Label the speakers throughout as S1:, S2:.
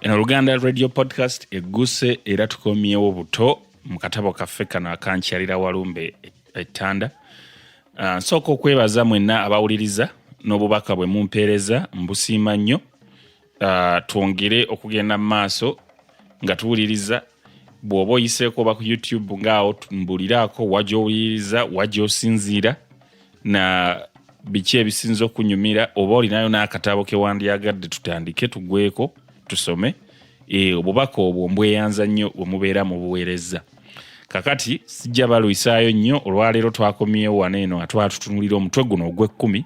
S1: eno oluganda radio podcast egguse era tukomyewo buto mu katabo kaffe kano akankyalira walumbe ettanda ah, nsooka okwebaza mwenna abawuliriza n'obubaka bwe mumpeereza mbusiima nnyo uh, twongere okugenda mu maaso nga tuwuliriza bw'oba oyiseeko oba ku youtube ngaawo mbuliraako wagyowuliriza wagyosinziira na biki ebisinza okunyumira oba olinayo n'akatabo kewandyagadde tutandike tugweko tusome e, obubaka obwo mbweyanza nnyo wemubeera mu buweereza kakati sijja balwisaayo nnyo olwaleero twakomyewo wano eno atwatutunulira omutwe guno ogw'ekkumi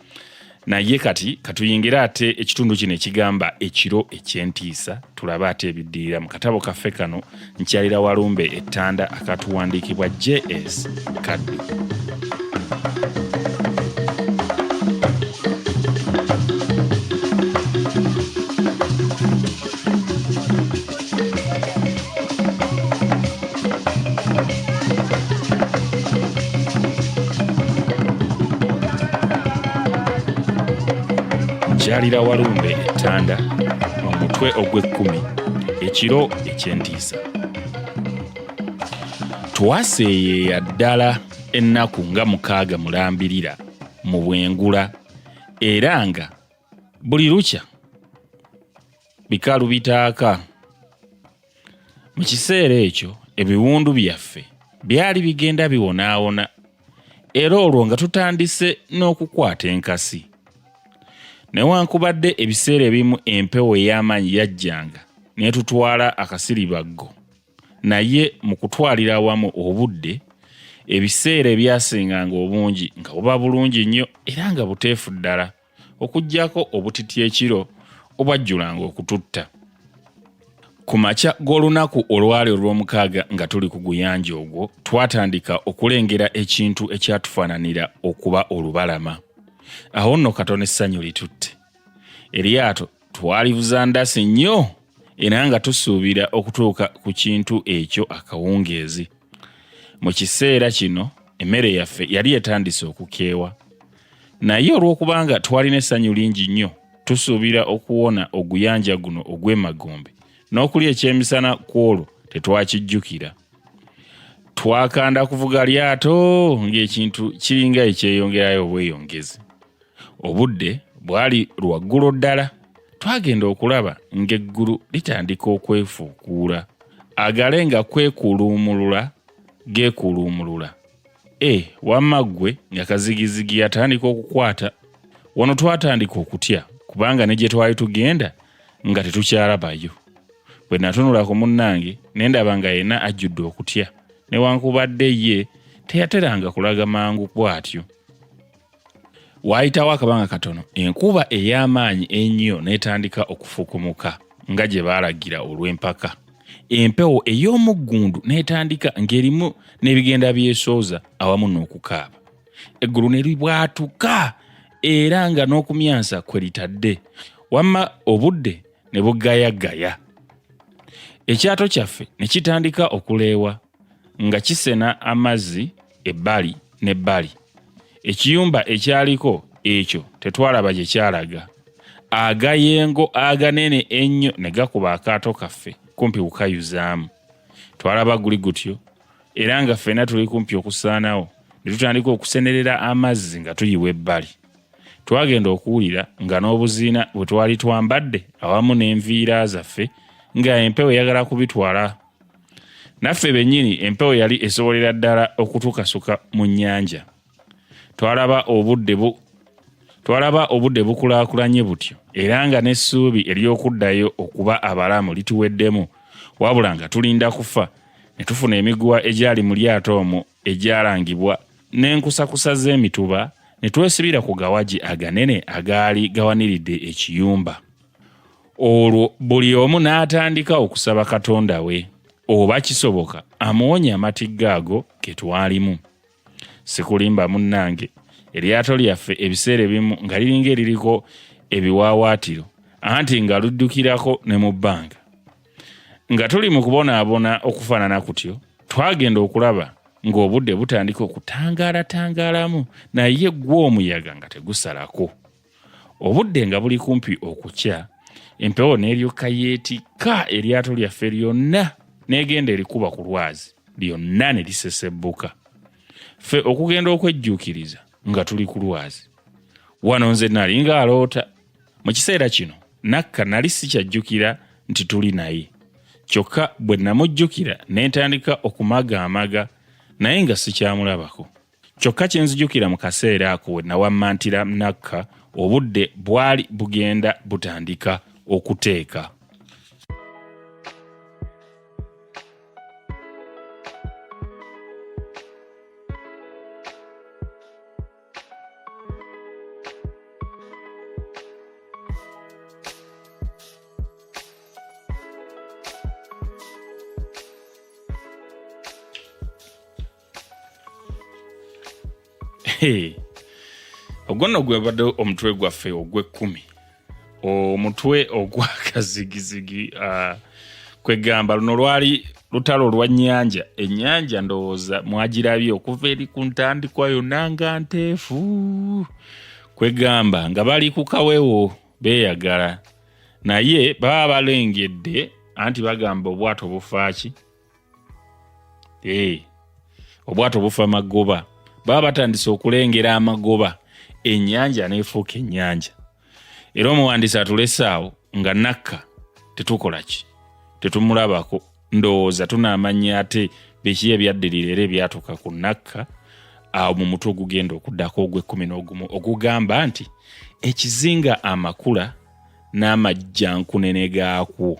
S1: naye kati katuyingire ate ekitundu kino ekigamba ekiro ekyentiisa tulabe ate ebiddirira mu katabo kaffe kano nkyalira walumbe ettanda akatuwandiikibwa js kaddu kyalira walumbe ettanda omutwe ogw'ekkumi ekiro eky'entiisa twaseeyeeya ddala ennaku nga mukaaga mulambirira mu bwengula era nga buli lukya bikalu bitaaka mu kiseera ekyo ebiwundu byaffe byali bigenda biwonaawona era olwo nga tutandise n'okukwata enkasi newankubadde ebiseera ebimu empewo ey'amaanyi yajjanga n'etutwala akasiribaggo naye mu kutwalira awamu obudde ebiseera ebyasinganga obungi nga buba bulungi nnyo era nga buteefu ddala okuggyako obutiti ekiro obwajjulanga okututta ku makya g'olunaku olwali olw'omukaaga nga tuli ku guyanja ogwo twatandika okulengera ekintu ekyatufaananira okuba olubalama awo nno katono essanyu litutte eryato twalivuza ndasi nnyo era nga tusuubira okutuuka ku kintu ekyo akawungeezi Mu kiseera kino emmere yaffe yali etandise okukeewa, naye olw'okubanga twalina essanyu lingi nnyo, tusuubira okuwona oguyanja guno ogw'emagombe n'okulya ekyemisana ku olwo tetwakijjukira. Twakanda kuvuga lyato ng'ekintu kiringa ekyeyongerayo obweyongezi. obudde bwali lwaggulo ddala twagenda okulaba ng'eggulu litandika okwefuukuula agale nga kwekuluumulula geekuluumulula e eh, wamma ggwe nga kazigizigi yatandika okukwata wano twatandika okutya kubanga ne gye twali tugenda nga tetukyalabayo bwe natunula ku munnange ne ndaba nga yenna ajjudde okutya newankubadde ye teyateranga kulaga mangu bw'atyo waayitawo akabanga katono enkuba ey'amaanyi ennyo n'etandika okufukumuka nga gye baalagira olw'empaka empewo ey'omuggundu n'etandika ng'erimu n'ebigenda byesooza awamu n'okukaaba eggulu ne libwatuka era nga n'okumyansa kwe litadde wamma obudde ne bugayagaya ekyato kyaffe ne kitandika okuleewa nga kisena amazzi ebbali n'ebbali. Ekiyumba ekyaliko ekyo tetwalaba gye kyalaga. Agayengo aganene ennyo ne gakuba akaato kaffe kumpi kukayuzaamu. Twalaba guli gutyo era nga ffena tuli kumpi okusaanawo ne tutandika okusenerera amazzi nga tuyiwa ebbali. Twagenda okuwulira nga n'obuziina bwe twali twambadde awamu n'enviira zaffe nga empewo eyagala kubitwala naffe bennyini empewo yali esobolera ddala okutukasuka mu nnyanja twalaba obudde bu twalaba obudde bukulaakulanye butyo era nga n'essuubi ery'okuddayo okuba abalamu lituweddemu wabula nga tulinda kufa ne tufuna emiguwa egyali mu lyato omwo egyalangibwa n'enkusakusa z'emituba ne twesibira ku gawagi aganene agaali gawaniridde ekiyumba olwo buli omu n'atandika okusaba katonda we oba kisoboka amuwonye amatigga ago ke twalimu sikulimba munnange eryato lyaffe ebiseera ebimu nga liringa eririko ebiwaawaatiro anti nga luddukirako ne mu bbanga nga tuli mu kubonaabona okufaanana kutyo twagenda okulaba ng'obudde butandika okutangaalatangalamu naye gwo omuyaga nga tegusalako obudde nga buli kumpi okukya empewo n'eryoka yeetikka eryato lyaffe lyonna n'egenda erikuba ku lwazi lyonna ne lisesebbuka ffe okugenda okwejjuukiriza nga tuli ku lwazi wano nze nali ng'aloota mu kiseera kino nakka nali sikyajjukira nti tuli naye kyokka bwe namujjukira ne ntandika okumagaamaga naye nga sikyamulabako kyokka kye nzijukira mu kaseera ako we nawammantira nakka obudde bwali bugenda butandika okuteeka ogwo nno gwebadde omutwe gwaffe ogw'ekkumi omutwe ogwakazigizigi uh, kwegamba luno lwali lutalo lwa nyanja enyanja ndowooza mwagirabye okuva eri ku ntandikwa yonna nga nteefu kwegamba nga bali ku kawewo beeyagala naye baba balengedde anti bagamba obwato bufaaki eh, obwato bufa magoba baba batandise okulengera amagoba ennyanja neefuuka ennyanja era omuwandiisi atulesaawo nga nakka tetukola ki tetumulabako ndowooza tunaamanya ate biki ebyaddirira era ebyatuuka ku nakka awo mu mutwe ogugenda okuddako ogw'ekkumi n'ogumu ogugamba nti ekizinga amakula n'amajjankunene gaakwo